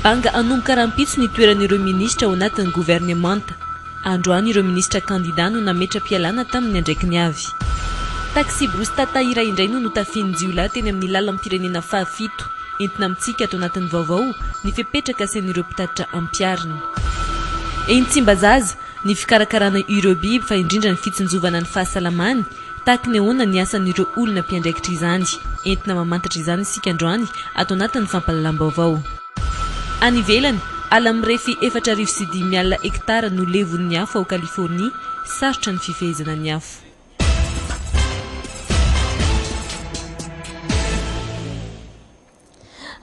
Anga hanomboka rahampitso ny toeran'ireo minisitra ao anatin'ny governemanta. Androany ireo minisitra kandidà no nametra-pialana tamin'ny andraikiny avy. Taxi-brousse Tata iray indray no notafihin'ny jiolahy teny amin'ny lalam-pirenena fahafito. Entina amintsika ato anatin'ny vaovao ny fepetra kasain'ireo mpitatitra ampiharina. Eny Tsimbazaza, ny fikarakarana ireo biby fa indrindra ny fitsinjovana ny fahasalamany Tahaky ny ahoana ny asan'ireo olona mpiandraikitra izany? Entina mamantatra izany isika androany ato anatin'ny fampahalalam-baovao. Any ivelany, ala mirefy efatra arivo sy dimy alina hektara no levon'ny afo ao Californie, sarotra ny fifehezana ny afo.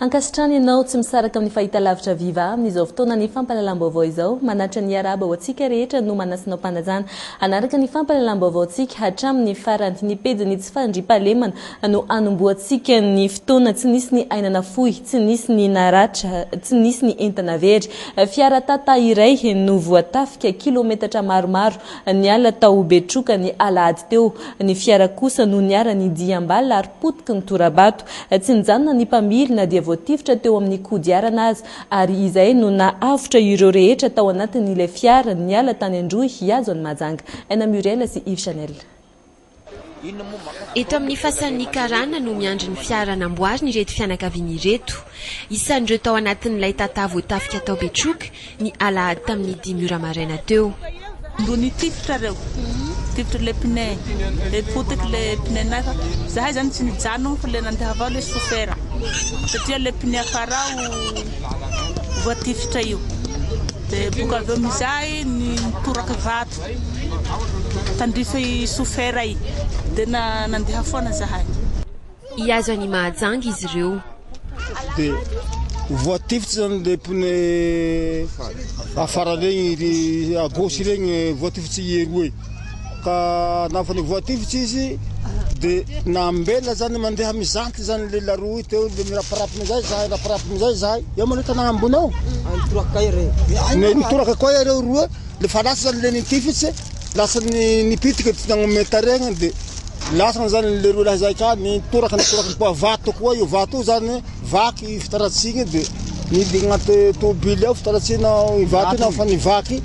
Ankasitrany ianao tsy misaraka amin'ny fahitalavitra viva amin'izao fotoanan'ny fampahalalam-baovao izao. Manatitra ny Arahaba ho antsika rehetra no manasinao mpanajana hanaraka ny fampahalalam-baovaontsika hatramin'ny farany. Ny pejin'ny tsy fandriampahalemana no hanombohantsika ny fotoana tsy nisy ny aina nafoy, tsy nisy ny naratra, tsy nisy ny entana very. Fiara Tata iray no voatafika kilometatra maromaro niala tao Betroka ny alahady teo. Ny fiara kosa no niharan'ny diam-bala ary potiky ny tora-bato. Tsy nijanona ny mpamily na dia voatifitra teo amin'ny kodiarana aza, ary izay no nahavotra ireo rehetra tao anatin'ilay fiara niala tany an-drohy hihazo an'i Mahajanga. Aina Muriel sy Yves Chanel. Eto amin'ny fasan'ny karana no miandry ny fiara namboariny ireto fianakaviana ireto. Isan'ireo tao anatin'ilay tata voatafika tao Betroka ny alahady tamin'ny dimy ora maraina teo. Mbo nitifitra reo, nitifitra le pneu, le potika le pneu nefa zahay zany tsy nijanogno fa le nandeha avao le chauffeur satria le pneu afara ao voatifitra io de boka avy eo amizay nitoraka vato tandrify chauffeur i de nandeha foana zahay. Hihazo an'i Mahajanga izy ireo. Dia ho voatifitra izany ilay pneu afara regny, iry à gauche regny voatifitry i Hero e. Ka nafa ny voatifitry izy dia nambela izany mandeha mijanty izany ilay la roue teo dia miraparapa amin'izay izahay, miraparapa amin'izay izahay. Eo manao tanàna ambony ao. Ny- Nitoraka koa iareo roa, le fa lasa izany ilay nitifitry, lasa ny- nipitika tsy nagnomey tarehy dia Lasana zany le roa lahy zay ka nitoraka nitoraka ny poa vato koa io vato io zany vaky fitaratsiny de nidina agnaty tobily ao fitaratsina i vato io fa nivaky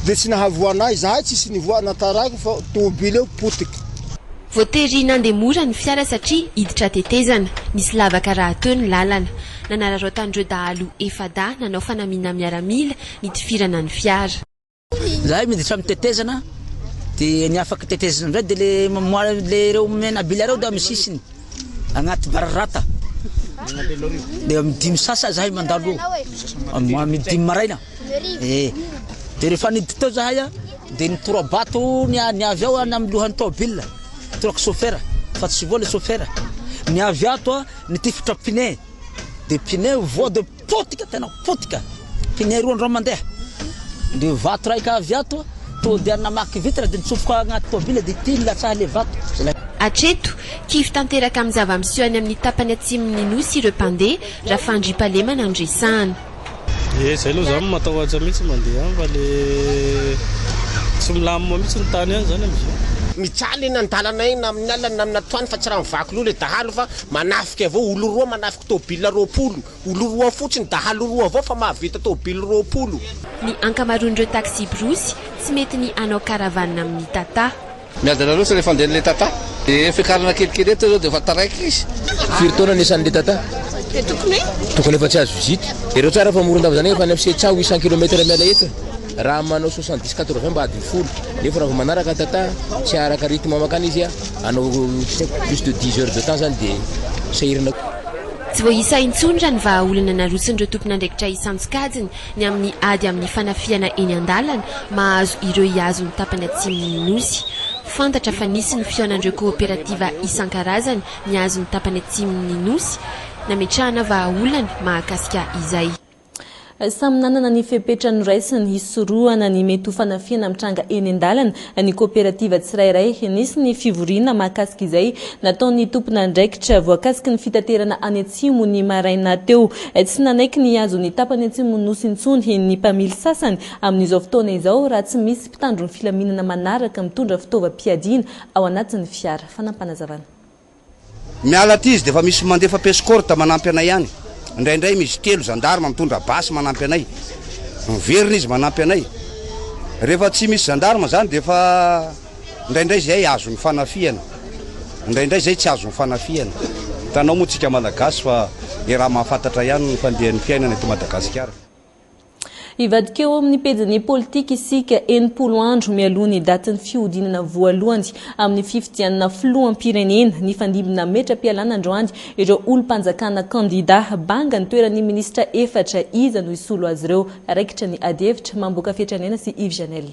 de tsy nahavoanay zahay tsisy nivoa na taraiky fa tobily eo potiky. Voatery nandeha mora ny fiara satria hiditra tetezana, nisy lavaka rahateo ny lalana. Nanararaotan'ireo dahalo efa-dahy nanao fanamiana miaramila nitifirana ny fiara. Zahay miditra amin'ny tetezana dia ny afaka tetezana indray dia le mamoara le ireo menabila ireo dia amin'ny sisiny agnaty bararata dia amin'ny dimy sasa zahay mandalo amin'ny dimy maraina eh dia rehefa niditra tao zahay dia nitorabato ny ny avy ao any amin'ny lohan'ny tômôbila toraka sofera fa tsy voa le sofera ny avy ato ny tifitra pine dia pine voa dia Potika tena potika. Kiniay roa andro mandeha. Dia vato raika avy ato, tonga dia namaky vitre dia nitsofoka agnaty tôbily dia ity nilatsaha ilay vato. Hatreto, kivy tanteraka amin'ny zava-miseho any amin'ny tapany atsimon'ny Nosy ireo mpandeha, raha fandriam-pahalema no andresahana. Ye, izay aloha izaho matahotra mihitsy ny mandeha any fa le tsy milamina mihitsy ny tany any izany amin'izao. Mijaly eny an-dalanay na amin'ny alina na amin'ny atoandro fa tsy raha mivaky loha ilay dahalo fa manafika avy eo, olon-droa manafika. Tôbila roapolo. Olo roa fotsiny, dahalo roa avao fa mahavita tôbily roapolo. Ny ankamaroan'ireo taksibrosy tsy mety ny hanao caravane amin'ny Tata. Miady anareo tsy rehefa andehan'ilay Tata. Dia fiakarana kelikely eto izao dia efa taraiky izy. Firy taona ny isan'ilay Tata? Tokony efa tsy azo vizity. Jereo tsara fa Morondava izany efa any amin'ny sept cents, huit cents kilomètre miala eto e. Raha manao soixante dix quatre vingt mba adiny folo nefa raha vao manaraka tata tsy araka rythme makany izy a anao plus de dix heures de temps zany de sahirana. Tsy voaisa intsony raha ny vahaolana narotsin'ireo tompon'andraikitra isan-tsokajiny ny amin'ny ady amin'ny fanafihana eny an-dalana mahazo ireo hihazo ny tapany atsimon'ny Nosy. Fantatra fa nisy ny fihaonan'ireo kaoperativa isan-karazany mihazo ny tapany atsimon'ny Nosy nametrahana vahaolana mahakasika izay. Samy nanana ny fepetra noraisiny hisorohana ny mety ho fanafihana mitranga eny an-dalana ny koperativa tsirairay. Nisy ny fivoriana mahakasika izay nataon'ny tompon'andraikitra voakasiky ny fitaterana any Atsimo ny maraina teo. Tsy nanaiky ny hihazo ny tapany atsimon'ny Nosy intsony ny mpamily sasany amin'izao fotoana izao raha tsy misy mpitandro ny filaminana manaraka mitondra fitaovam-piadiana ao anatin'ny fiara. Fanampanazavan. Miala aty izy dia efa misy mandefa pescorte manampy anay any. Indraindray misy telo zandarma mitondra basy manampy anay. Miverina izy manampy anay. Rehefa tsy misy zandarma izany dia efa indraindray izay azon'ny fanafihana. Indraindray izay tsy azon'ny fanafihana. Hitanao moa tsika Malagasy fa le raha mahafantatra ihany ny fandehan'ny fiainana eto Madagasikara. Hivadika eo amin'ny pejin'ny politika isika enimpolo andro mialoha ny datin'ny fihodinana voalohany amin'ny fifidianana filoham-pirenena. Nifandimby nametra-pialana androany ireo olom-panjakana kandidà. Banga ny toeran'ny minisitra efatra. Iza no hisolo azy ireo? Raikitra ny adihevitra. Mamboaka Fiatraniaina sy Yves Janel.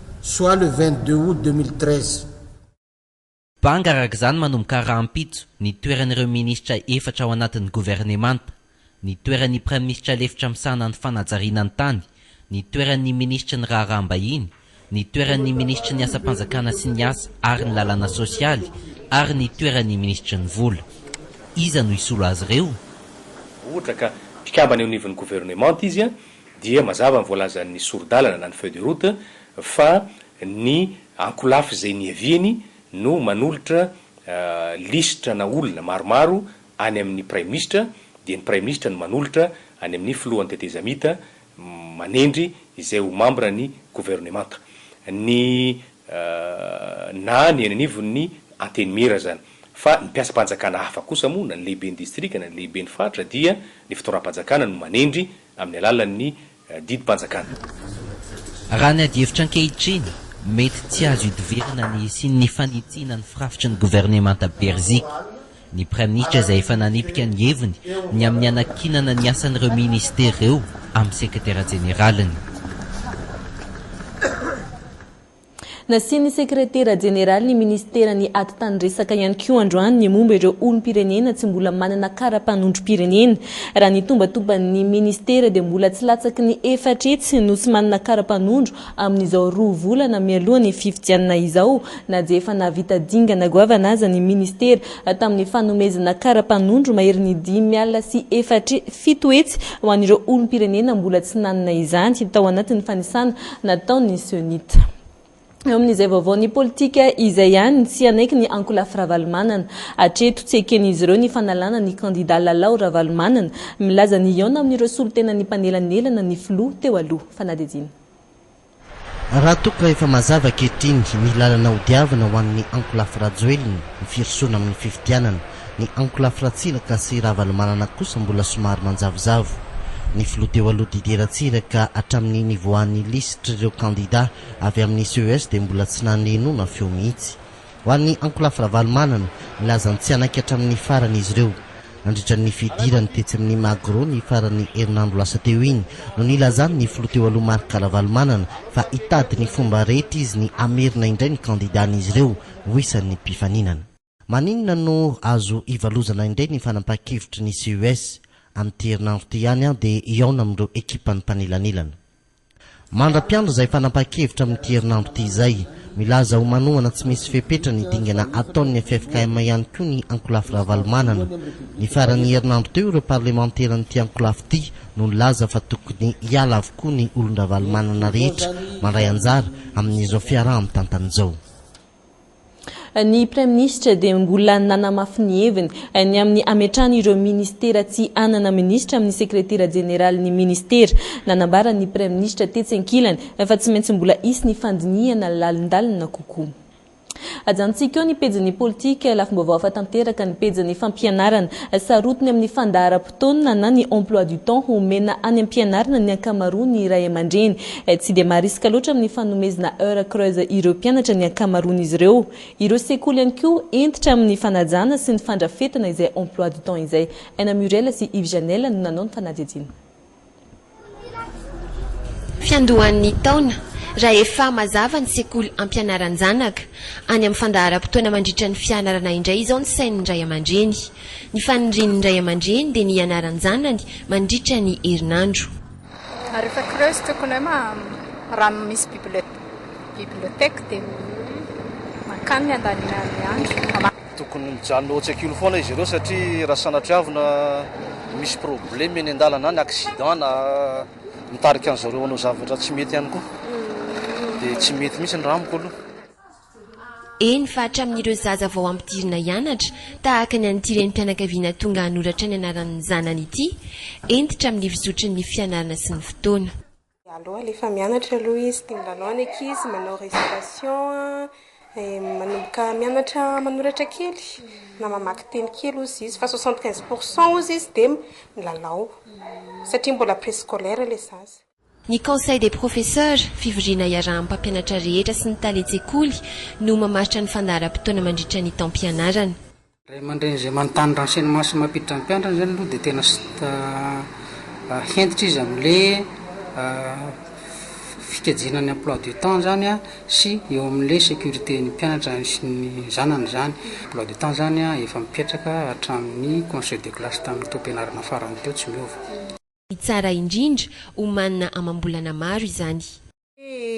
soit le 22 aout 2013. Banga araka izany manomboka rahampitso ny toeran'ireo minisitra efatra ao anatin'ny governemanta, ny toeran'ny praiminisitra lefitra misahana ny fanajariana ny tany, ny toeran'ny minisitry ny raharaham-bahiny, ny toeran'ny minisitry ny asam-panjakana sy ny asa ary ny lalàna sosialy ary ny toeran'ny minisitry ny vola. Iza no hisolo azy ireo? Ohatra ka mpikambana eo anivon'ny governemanta izy dia mazava ny voalazan'ny sori-dalana na ny feuille de route fa ny ankolafy izay niaviany no manolotra lisitra na olona maromaro any amin'ny praiminisitra dia ny praiminisitra no manolotra any amin'ny filohan'ny tetezamita manendry izay ho mambra ny governemanta. Ny na ny eny anivon'ny Antenimiera izany. Fa ny mpiasam-panjakana hafa kosa moa, na ny lehiben'ny distrika, na ny lehiben'ny faritra dia ny fitondram-panjakana no manendry amin'ny alalan'ny didim-panjakana. Raha ny adihevitra ankehitriny, mety tsy azo idivirana ny hisian'ny fanitsiana ny firafitry ny governemanta Berziky. Ny Praiminisitra izay efa nanipika ny heviny ny amin'ny hanakianana ny asan'ireo Minisitera ireo amin'ny Sekretera Jeneraliny. Nasian'ny Sekretera Jeneralin'ny Minisiteran'ny Atitanindresaka ihany koa androany ny momba ireo olom-pirenena tsy mbola manana kara-panondrom-pirenena. Raha ny tombatoban'ny Minisitera dia mbola tsy latsaky ny efatra hetsy no tsy manana kara-panondro Amin'izao roa volana mialoha ny fifidianana izao na dia efa nahavita dingana goavana aza ny ministera tamin'ny fanomezana kara-panondro maherin'ny dimy alina sy efatra fito hetsy ho an'ireo olom-pirenena mbola tsy nanana izany tao anatin'ny fanisana nataon'ny Cenit eo amin'izay vaovaon'ny politika izay ihany no tsy hanaiky ny ankolafy Ravalomanana. Hatreto tsy eken'izy ireo ny fanalana ny kandida Lalao Ravalomanana milaza ny hihaona amin'ireo solotenan'ny mpanelanelana ny filoha teo aloha. fanadihadiana. Raha toa ka efa mazava ankehitriny ny lalana hodiavina ho an'ny ankolafy Rajoelina, ny firosoana amin'ny fifidianana, ny ankolafy Ratsiraka sy Ravalomanana kosa mbola somary manjavozavo. Ny filoha teo aloha Didier Ratsiraka hatramin'ny nivoahan'ny lisitr'ireo kandida avy amin'ny CES dia mbola tsy naneno na feo mihitsy. Ho an'ny ankolafy Ravalomanana, nilaza ny tsy hanaiky hatramin'ny farany izy ireo. Nandritra ny fidirany tetsy amin'ny Magro ny faran'ny herinandro lasa teo iny no nilazany ny filoha teo aloha Marc Ravalomanana fa hitady ny fomba rehetra izy ny hamerina indray ny kandidàn'izy ireo ho isan'ny mpifaninana. Maninona no azo ivalozana indray ny fanapahan-kevitry ny CUS? Amin'ity herinandro ity ihany aho dia hihaona amin'ireo ekipan'ny mpanelanelana. Mandra-piandry izay fanapahan-kevitra amin'ity herinandro ity izay. Milaza ho manohana tsy misy fepetra ny dingana ataon'ny ffkm ihany koa ny ankolafy Ravalomanana. Ny faran'ny herinandro teo ireo parlemanteran'ity ankolafy ity no nilaza fa tokony hiala avokoa ny olon-dRavalomanana rehetra mandray anjara amin'izao fiaraha-mitantana izao. Ny Praiminisitra dia mbola nanamafy ny heviny ny amin'ny hametrahana ireo Ministera tsy hanana Minisitra amin'ny Sekretera Jeneralin'ny Ministera. Nanambara ny Praiminisitra tetsy ankilany fa tsy maintsy mbola hisy ny fandinihana lalindalina kokoa. Ajanontsika eo ny pejin'ny politika, lafim-baovao hafa tanteraka ny pejin'ny fampianarana, sarotiny amin'ny fandaharam-potoana. fotoana na ny emploi du temps ho omena any am-pianarana ny ankamaroan'ny ray aman-dreny. Tsy dia marisika loatra amin'ny fanomezna heures creuses ireo mpianatra ny ankamaroan'izy ireo. Ireo sekoly ihany koa hentitra amin'ny fanajana sy ny fandrafetana izay emploi du temps izay. Aina Muriel sy Yves Janel no nanao ny fanadihadiana. fiandohan'ny taona rahefa mazava ny sekoly ampianaran-janaka. Any amin'ny fandaharam-potoana mandritra ny fianarana indray izao ny sain'ny ray aman-dreny. Ny fanirian'ny ray aman-dreny dia ny hianaran-janany mandritra ny herinandro. Ary efa creuse tokony hoe raha misy bibliothèque dia mankany ny andaniana ny andro. Tokony mijanona eo an-tsekoly foana izy ireo satria raha sanatriavina misy probleme eny an-dalana any, accident na mitarika an'i zareo hanao zavatra tsy mety ihany koa dia tsy mety mihitsy ny raha amiko aloha. Eny fa hatramin'ireo zaza vao ampidirina hianatra, tahaka ny an'ity renim-pianakaviana tonga hanoratra ny anaran'ny zanany ity, hentitra amin'ny fizotry ny fianarana sy ny fotoana. Aleo alefa mianatra aloha izy, tia milalao ny ankizy, manao récitation, manomboka mianatra manoratra kely na mamaky teny kely hozy izy fa soixante quinze pour cent hozy izy dia milalao satria mbola préscolaire ilay zaza. Ny Conseil des professeurs, fivoriana iarahan'ny mpampianatra rehetra sy ny talen-tsekoly, no mamaritra ny fandaharam-potoana mandritra ny taom-pianarana. Ray aman-dreny izay manontany renseignements mampiditra ny mpiantrany izany aloha dia tena hentitra izy amin'le fikajiana ny emploi du temps izany sy eo amin'le sécurité ny mpianatra sy ny zanany izany. Emploi du temps izany efa mipetraka hatramin'ny conseil de classe tamin'ny taom-pianarana farany teo tsy miova. Ny tsara indrindra, omanina amam-bolana maro izany.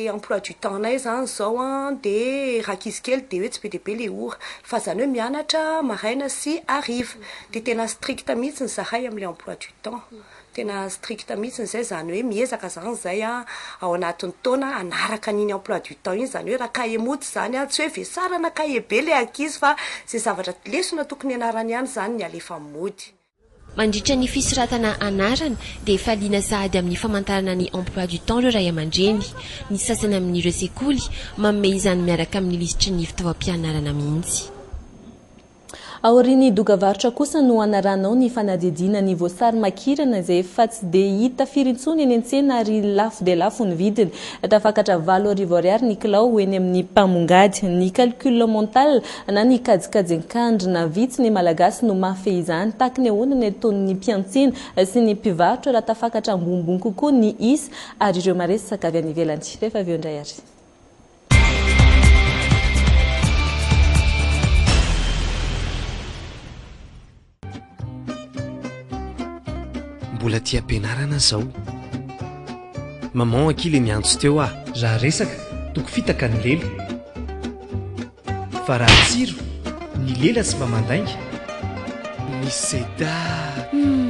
emploi du temps nay zany zao an de raha ankizy kely de hoe tsy be dia be le ora fa zany hoe mianatra maraina sy hariva de tena stricte mihitsiny zahay amle emploi du temps tena stricte mihitsiny zay zany hoe miezaka zany zay an ao anatiny taona hanaraka an'iny emploi du temps iny zany hoe raha cahier mouti zany an tsy hoe vesarana cahier be le ankizy fa ze zavatra lesona tokony hianarany ihany zany ny alefa mody Mandritra ny fisoratana anarana dia faliana sahady amin'ny famantarana ny emploi du temps ireo ray aman-dreny. Ny sasany amin'ireo sekoly manome izany miaraka amin'ny lisitry ny fitaovam-pianarana mihitsy. Aorian'ny doga varotra kosa no hanaranao ny fanadihadiana ny voasary makirana izay efa tsy dia hita firy intsony eny an-tsena ary lafo dia lafo ny vidiny. Tafakatra valo arivo ariary ny kilao eny amin'ny mpamongady. Ny calcul mental na ny kajikajy an-kandrina. Vitsy ny Malagasy no mahafehy izany. Taky ny ahoana ny ataon'ny mpiantsena sy ny mpivarotra raha tafakatra ambonimbony kokoa ny isa ary ireo maresaka avy any ivelany? Rehefa avy eo indray àry. Mbola aty am-pianarana zao. Maman akia le miantso teo ah. Raha resaka, toko fitaka ny lela. Fa raha tsiro, ny lela sy mba mandainga. Ny seda humm.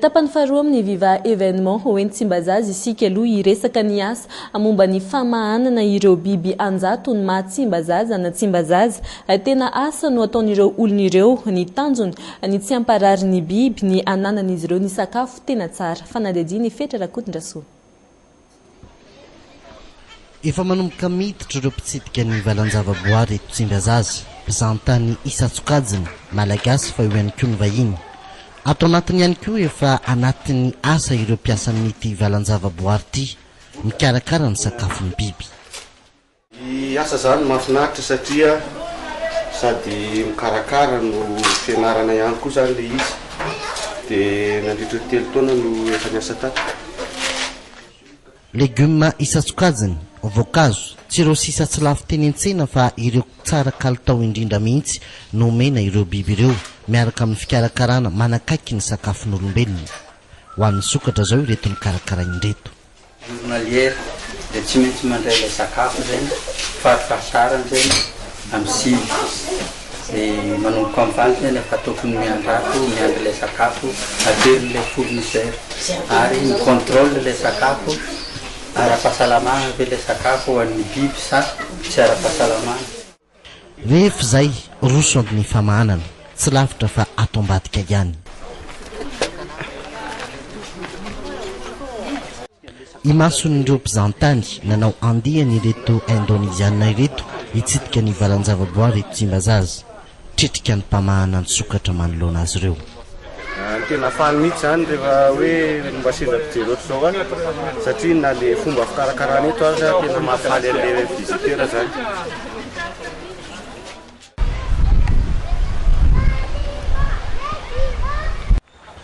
Tapany faharoa amin'ny Viva Evenement ho eny Tsimbazaza isika aloha hiresaka ny asa momba ny famahanana ireo biby anjatony maha Tsimbazaza na Tsimbazaza. Tena asa no ataon'ireo olona ireo, ny tanjony ny tsy hamparary ny biby, ny hananan'izy ireo ny sakafo tena tsara. Fanadihadiana i Fetra Rakotondrasoa. Efa manomboka miditra ireo mpitsidika ny valan-javaboahary eto Tsimbazaza, mpizahantany isan-tsokajiny, Malagasy fa eo ihany koa ny vahiny. Ato anatiny ihany koa efa anatin'ny asa ireo mpiasan'ity valan-javaboahary ity, mikarakara ny sakafon'ny biby. Ny asa zany mahafinaritra satria sady mikarakara no fianarana ihany koa zany le izy de nandritry ny telo taona no efa niasa tato. Legioma isan-tsokajiny, voankazo, tsy ireo sisa tsy lafo teny an-tsena fa ireo tsara kalitao indrindra mihitsy no omena ireo biby ireo miaraka amin'ny fikarakarana manakaiky ny sakafon'olombelona. Ho an'ny sokatra izao ireto nokarakarainy ireto. Journalière dia tsy maintsy mandray ilay sakafo zay fariparitaran zay am sivy de manomboka am valo zay le fa tokony miandrato miandry ilay sakafo atery ilay fournisseur ary mi controle ilay sakafo ara pahasalamana ve ilay sakafo ho an'ny biby sa tsy ara pahasalamana. Rehefa izay, roso amin'ny famahanana. Tsy lavitra fa ato ambadika ihany. Imason'ireo mpizahantany nanao andiany ireto Indoneziana ireto hitsidika ny valan-javaboary eto Tsimbazaza. Tritrika ny mpamahana an-tsokatra manoloana azy ireo. Tena faly mihitsy izany rehefa hoe mba sendra mpijery ohatr'izao aho satria na ilay fomba fikarakarana eto aza tena mahafaly an'ilay visiteur izany.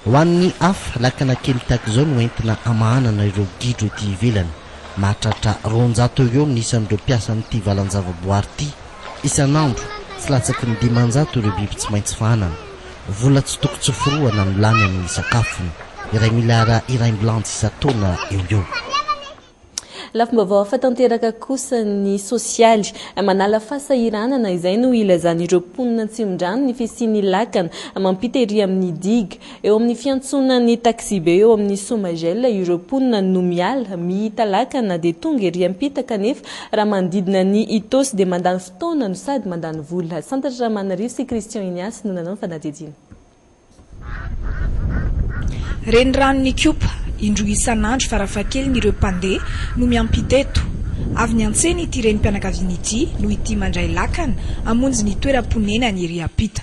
Ho an'ny hafa, lakana kely tahaka izao no entina hamahanana ireo gidro ety ivelany. Mahatratra roanjato eo ho eo ny isan'ireo mpiasan'ity valan-javaboary ity. Isan'andro, tsy latsaky ny dimanjato ireo biby tsy maintsy fahanana. Vola tsy toko tsy forohana no lany amin'ny sakafony, iray miliara iraimbilanjy isan-taona eo ho eo. Lafim-baovao hafa tanteraka kosa ny sosialy. Manala fahasahiranana izay no ilazan'ireo mponina Antsimondrano ny fisian'ny lakana mampita ery amin'ny digue. Eo amin'ny fiantsonan'ny taxibe eo amin'ny Somagel ireo mponina no miala, mihita lakana dia tonga ery am-pita kanefa raha manodidina an'i Itaosy dia mandany taona no sady mandany vola. Santatra Ramanarivo sy Christian Ignace no nanao ny fanadihadiana. Renirano Nikopa, indroa isan'andro farafahakeliny ireo mpandeha no miampita eto. Avy niantsena ity renim-pianakaviana ity noho ity mandray lakana hamonjy ny toeram-ponenany ery ampita.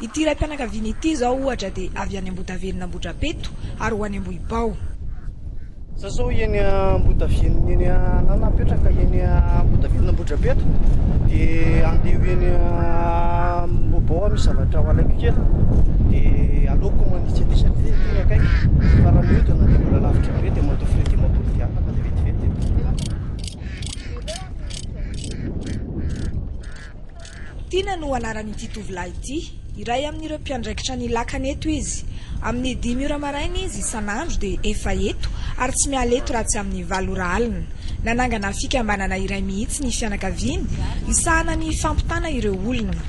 Ity raim-pianakaviana ity izao ohatra dia avy any Ambotaveno Ambohidrapeto ary ho any Ambohibao. Za zao eny Ambotaveno eny anah napetraka eny Ambotaveno Ambohidrapeto dia andeha eny Ambohibao misy zavatra ho alaiko kely dia aleoko manitsy aty satria ity ny akaiky fa raha miodina dia mbola lavitra be dia mandoa frais dimampolo dia afaka dia vetivety. Tiana no anaran'ity tovolahy ity. Iray amin'ireo mpiandraikitra ny lakana eto izy. Amin'ny dimy ora maraina izy isan'andro dia efa eto ary tsy miala eto raha tsy amin'ny valo ora alina. Nanangana fikambanana iray mihitsy ny fianakaviany hisahana ny fampitana ireo olona.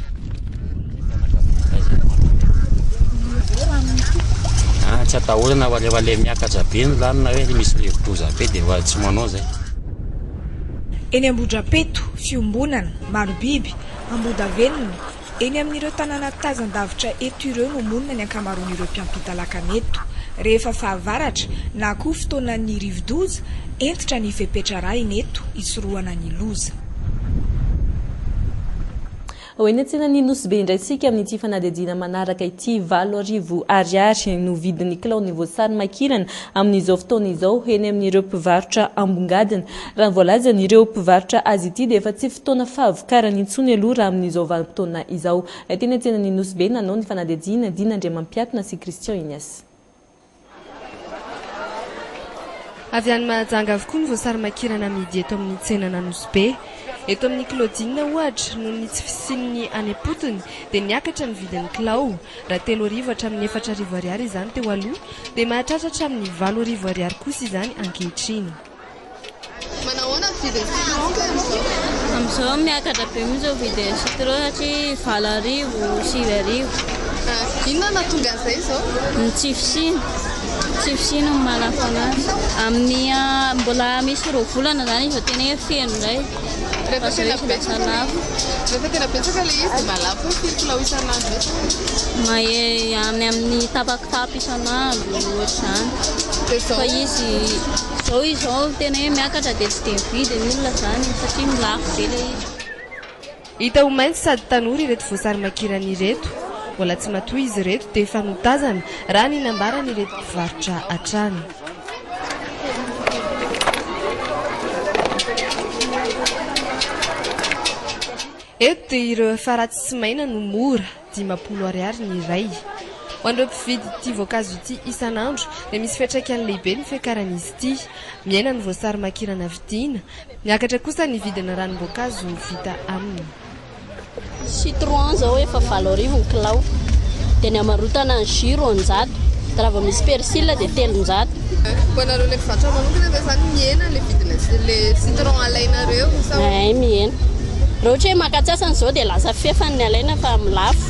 Tsy atahorana fa rehefa ilay miakatra be ny rano na hoe misy rivo-doza be dia efa tsy manao izay. Eny Ambohidrapeto, fiombonana. Marobiby, Ambohidavenona, eny amin'ireo tanàna tazan-davitra eto ireo no monina ny ankamaroan'ireo mpiampita lakana eto. Rehefa fahavaratra, na koa fotoanan'ny rivodoza, hentitra ny fepetra arahina eto hisorohana ny loza. Ho eny an-tsenan'ny Nosy Be indray isika amin'ity fanadihadiana manaraka ity. Valo arivo Ariary no vidin'ny kilaon'ny voasary makirana amin'izao fotoana izao eny amin'ireo mpivarotra ambongadiny. Raha ny voalazan'ireo mpivarotra azy ity dia efa tsy fotoana fahavokarany intsony aloha raha amin'izao vanim-potoana izao. Teny an-tsenan'ny Nosy Be nanao ny fanadihadiana Dina Andriamampiatona sy Christian Ignace. Avy any Mahajanga avokoa ny voasary makirana amidy eto amin'ny tsenan'Anosy Be. Eto amin'ny Kilaodina ohatra, noho ny tsy fisian'ny any am-potony dia niakatra ny vidin'ny kilao. Raha telo arivo hatramin'ny efatra arivo ariary izany teo aloha dia mahatratra hatramin'ny valo arivo ariary kosa izany ankehitriny. Manahoana ny vidin'ny citron kay amin'izao? Amin'izao miakatra be mihitsy ny vidin'ny citron satria valo arivo, sivy arivo. Inona no nahatonga an'izay izao? Ny tsy fisiany, ny tsy fisiany no manafana azy. Amin'ny mbola misy roa volana izany izy vao tena hoe feno indray. Rehefa tena betsaka le rehefa tena betsaka le izy de mahalafo hoe firy kilao isan'andro eo zany? Mahery any amin'ny tapa kitapo isan'andro ohatr'izany. De zao? Fa izy zao izy zao tena hoe miakatra de tsy de ny vidiny olona zany satria lafo be le izy. Hita ho mainty sady tanora ireto voasarimakirana ireto. Mbola tsy matoy izy ireto dia efa notazana, raha ny nambaran'ireto mpivarotra hatrany. Eto dia ireo efa ratsy sy maina no mora. dimampolo ariary ny iray. Ho an'ireo mpividy ity voankazo ity isan'andro dia misy fiantraikany lehibe ny fiakaran'izy ity. Mihena ny voasary makirana vidiana. Miakatra kosa ny vidin'ny ranom-boankazo vita aminy. Citron izao efa valo arivo ny kilao. Dia ny amarotana ny jus roanjato. Dia raha vao misy persil dia telonjato. Ho anareo ilay mpivarotra manokana ve izany mihena ilay vidina ilay citron alainareo sa? Ay mihena. Raha ohatra hoe maka antsasany izao dia lasa fefany ny alaina fa amin'ny lafo.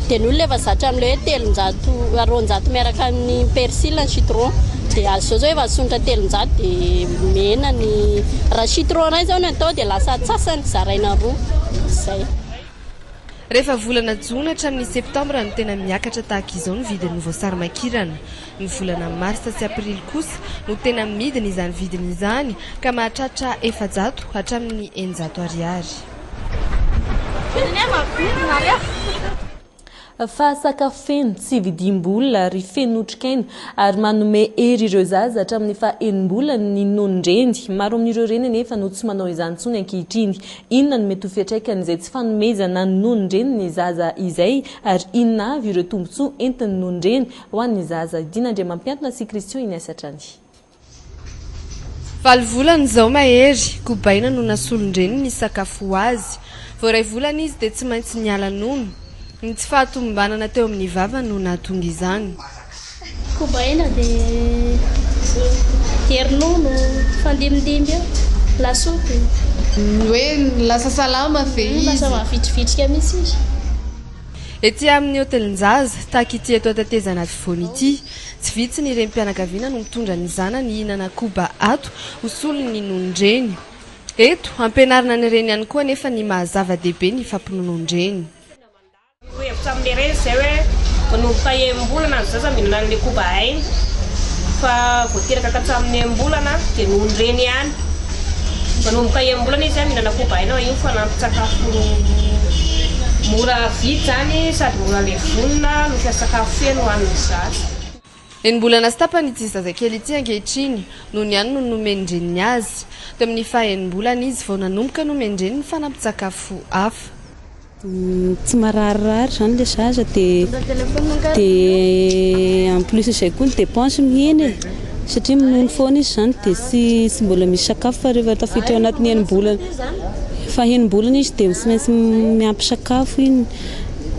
Dia ny olona efa zatra amin'ilay hoe telonjato roanjato miaraka amin'ny persil ny citron. Dia azy izao izao efa asonitra telonjato dia mihena ny raha citron iray izao no atao dia lasa antsasany zaraina roa. Izay. Rehefa volana jona hatramin'ny septambra no tena miakatra tahaka izao ny vidin'ny voasarimakirana. Ny volana marsa sy aprily kosa no tena midina izany vidiny izany ka mahatratra efajato hatramin'ny eninjato ariary. Fa sakafo feno, tsy vidiam-bola ary feno otrikaina, ary manome hery ireo zaza hatramin'ny faha enim-bolany ny nonon-dreny. Maro amin'ireo reny anefa no tsy manao izany intsony ankehitriny. Inona no mety ho fiatraikan'izay tsy fanomezana ny nonon-dreny ny zaza izay, ary inona avy ireo tombontsoa entin'ny nonon-dreny ho an'ny zaza? Dina Andriamampiantona sy Christian Ignace hatrany. Valo volana izao Mahery, kobaina no nasolon-dreniny hisakafo ho azy. Vao iray volana izy dia tsy maintsy niala nono. Ny tsy fahatomombanana teo amin'ny vavany no nahatonga izany. Kobaina dia dia ronono, fandimindimby eo, lasopy. Ny hoe lasa salama ve izy? Lasa mahavitrivitrika mihitsy izy. Ety amin'ny hotelin-jaza, tahaka ity eto an-tetezana afovoany ity, Tsy vitsy ny renim-pianakaviana no mitondra ny zanany hihinana koba ato ho solon'ny nonon-dreny. Eto, ampianarina ny reny ihany koa anefa ny maha zava-dehibe ny fampinonon-dreny. Ho hevitra amin'ilay reny izay hoe manomboka enim-bolana ny zaza mihinana an'ilay koba ainy, fa vao teraka ka hatramin'ny enim-bolana dia nonon-dreny ihany. Manomboka enim-bolana izy mihinana koba aina io fanampin-tsakafo mora vidy izany sady mora levonina no mpiasa sakafo feno ho an'ny zaza. Enim-bolana sy tapany ity zazakely ity ankehitriny noho ny anony nomen-dreniny azy. Tamin'ny faha-enim-bolana izy vao nanomboka nomen-dreniny fanampin-tsakafo hafa. tsy mararirary zany le zaza dia dia en plus izay koa ny dépense no hihena e satria minono foana izy zany dia tsy tsy mbola misy sakafo fa rehefa tafiditra ao anatin'ny enim-bolana fahenim-bolana izy dia tsy maintsy miampy sakafo iny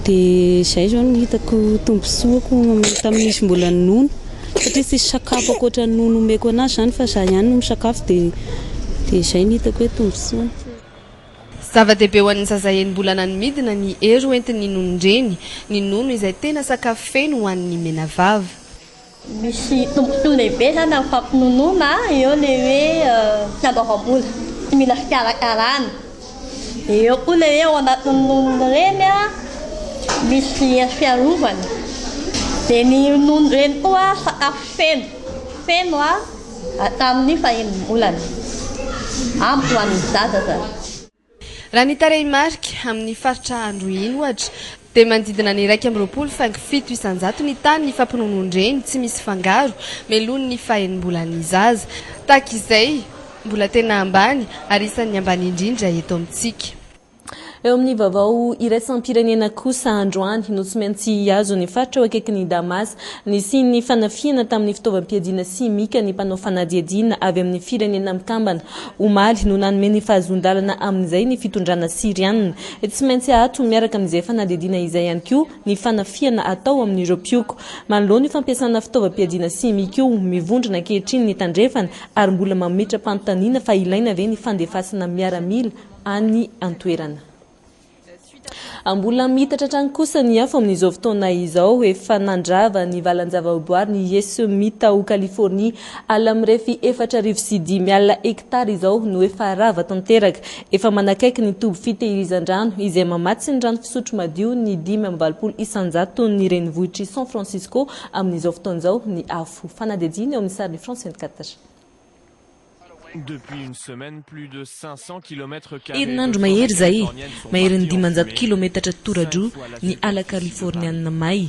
dia izay izao no hitako tombontsoa ko manomboka amin'izy mbola nono satria tsisy sakafo ankoatra ny nono omeko anazy zany fa za ihany no misakafo dia dia izay no hitako hoe tombontsoany Zava-dehibe ho an'ny zaza enim-bolana ny midina ny hery ho entin'ny nonon-dreny. Ny nono izay tena sakafo feno ho an'ny menavava. Misy tombotsoany be izany amin'ny fampinonoana eo ilay hoe fiandoavam-bola, tsy mila fikarakarana. Dia eo koa ilay hoe ao anatin'ny nonon-dreny misy hery fiarovana. Dia ny nonon-dreny koa sakafo feno, feno. Hatramin'ny fahen'ny volana. Amiko ho an'ny zaza zany. Raha ny tarehimarika, amin'ny faritra Androhiany ohatra, dia manodidina ny iraika amby roapolo faingo fito isanjato ny tany nifampinonoan-dreny tsy misy fangaro melohin'ny fahenim-bolan'ny zaza. Tahaka izay, mbola tena ambany ary isan'ny ambany indrindra eto amintsika. Eo amin'ny vaovao iraisam-pirenena kosa androany no tsy maintsy hihazo ny faritra eo akaikin'i Damas nisian'ny fanafihana tamin'ny fitaovam-piadiana simika ny mpanao fanadihadiana avy amin'ny Firenena Mikambana. Omaly no nanome ny fahazoan-dalana amin'izay ny fitondrana Syriana. Tsy maintsy ato miaraka amin'izay fanadihadiana izay ihany koa ny fanafihana atao amin'ireo mpioko. Manoloana io fampiasana fitaovam-piadiana simika io, mivondrona ankehitriny ny Tandrefana ary mbola mametra-panontaniana fa ilaina ve ny fandefasana miaramila any an-toerana. Mbola miitatra hatrany kosa ny afo amin'izao fotoana izao. Efa nandrava ny valan-javaboary ny Yesumita ao Californie. Ala mirefy efatra arivo sy dimy alina hektara izao no efa rava tanteraka. Efa manakaiky ny toby fitehirizan-drano izay mamatsy ny rano fisotro madio ny dimy amby valopolo isanjaton'ny renivohitr'i San Francisco amin'izao fotoana izao ny afo. Fanadihadiana eo amin'ny sarin'i France vingt-quatre. Herinandro mahery izay, maherin'ny dimanjato kilometatra toradroa ny ala Kaliforniana may,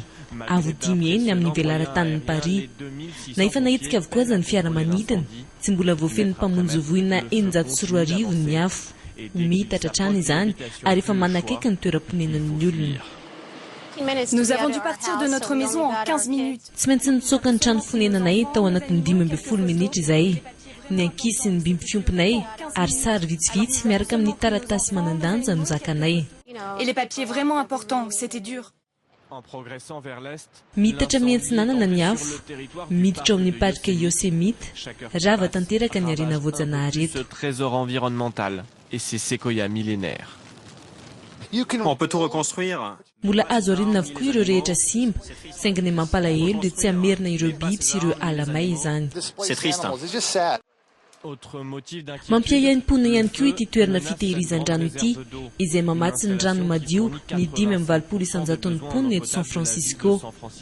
avo dimy heny amin'ny velaran-tanin'i Paris. Na efa nahetsika avokoa aza ny fiaramanidina, tsy mbola voafehin'ny mpamonjy voina eninjato sy roa arivo ny afo. Ho miitatra hatrany izany ary efa manakaiky ny toeram-ponenan'ny olona. Tsy maintsy nitsoaka ny trano fonenanay tao anatin'ny dimy ambin'ny folo minitra izahay. Ny ankizy sy ny biby fiompinay ary sary vitsivitsy miaraka amin'ny taratasy manan-danja no zakanay. Et les papiers vraiment importants, c'etait dur. Miitatra miantsinanana ny afo, miditra ao amin'ny parc Yosemite, rava tanteraka ny harena voajanahary eto. Mbola azo arinina avokoa ireo rehetra simba, saingy ny mampalahelo dia tsy hamerina ireo biby sy ireo ala may izany. C'est triste hein. Mampiaiaim-pona ihany koa ity toerana fitehirizan-drano ity, izay mamatsy ny rano madio ny dimy amby valopolo isan-jaton'ny mponina eto San Francisco.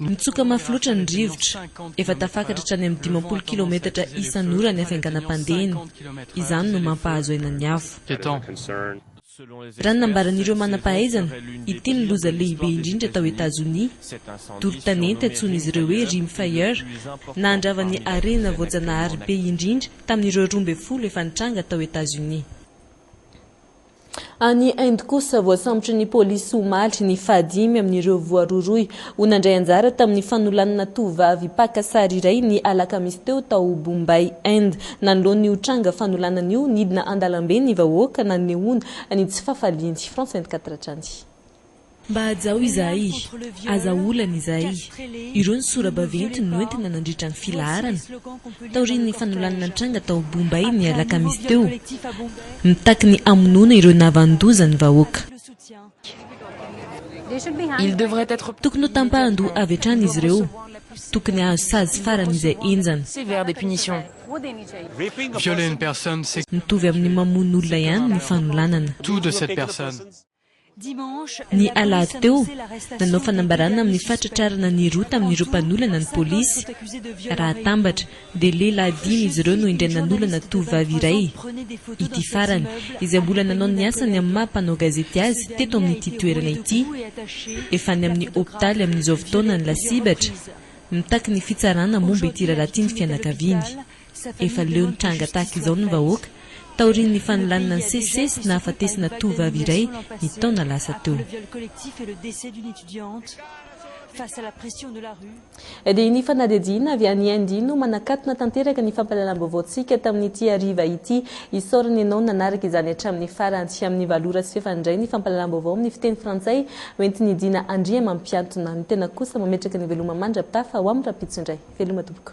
Mitsoka mafy loatra ny rivotra. Efa tafakatra hatrany amin'ny dimampolo kilaometatra isan'ora ny hafainganam-pandehany. Izany no mampahazo aina ny afo. Raha ny nambaran'ireo manam-pahaizana, ity no loza lehibe indrindra tao Etazonia. Doro tanety antsoin'izy ireo hoe Rim Fire nahandrava ny harena voajanahary be indrindra tamin'ireo roa ambin'ny folo efa nitranga tao Etazonia. Any Inde kosa, voasambotry ny polisy omaly ny fahadimy amin'ireo voarohirohy ho nandray anjara tamin'ny fanolanana tovovavy mpaka sary iray ny alakamisy teo tao Bombay, Inde. Nanoloana io tranga fanolanana io, nidina an-dalambe ny vahoaka nanehoana ny tsy fahafaliany. France vingt-quatre hatrany. Mba hajao izahay, aza olana izahay. Ireo ny sora-baventy noentina nandritra ny filaharana, taorian'ny fanolanana nitranga tao Bombay ny alakamisy teo, mitaky ny hamonoana ireo nahavanon-doza ny vahoaka. Tokony ho tampahan-doha avy hatrany izy ireo. Tokony hahazo sazy farany izay henjana. Mitovy amin'ny mamono olona ihany ny fanolanana. Ny alahady teo, nanao fanambarana amin'ny fahatratrarana ny roa tamin'ireo mpanolana ny polisy. Raha atambatra, dia lehilahy dimy izy ireo no indray nanolana tovovavy iray. Ity farany, izay mbola nanao ny asany amin'ny maha mpanao gazety azy teto amin'ity toerana ity. Efa any amin'ny hopitaly amin'izao fotoana ny lasibatra. Mitaky ny fitsarana momba ity raharaha ity ny fianakaviany. Efa leo ny tranga tahaka izao ny vahoaka, taorian'ny fanolanana ny sesisesy nahafatesana tovovavy iray ny taona lasa teo. Dia ny fanadihadiana avy any Inde no manakatona tanteraka ny fampahalalam-baovaontsika tamin'ity hariva ity. Isaorana ianao nanaraka izany hatramin'ny farany. Tsy amin'ny valo ora sy fahefany indray ny fampahalalam-baovao amin'ny fiteny frantsay hoentin'i Dina Andriamampiantona. Ny tena kosa mametraka ny veloma mandra-pitafa ho amin'ny rahampitso indray. Veloma tompoko.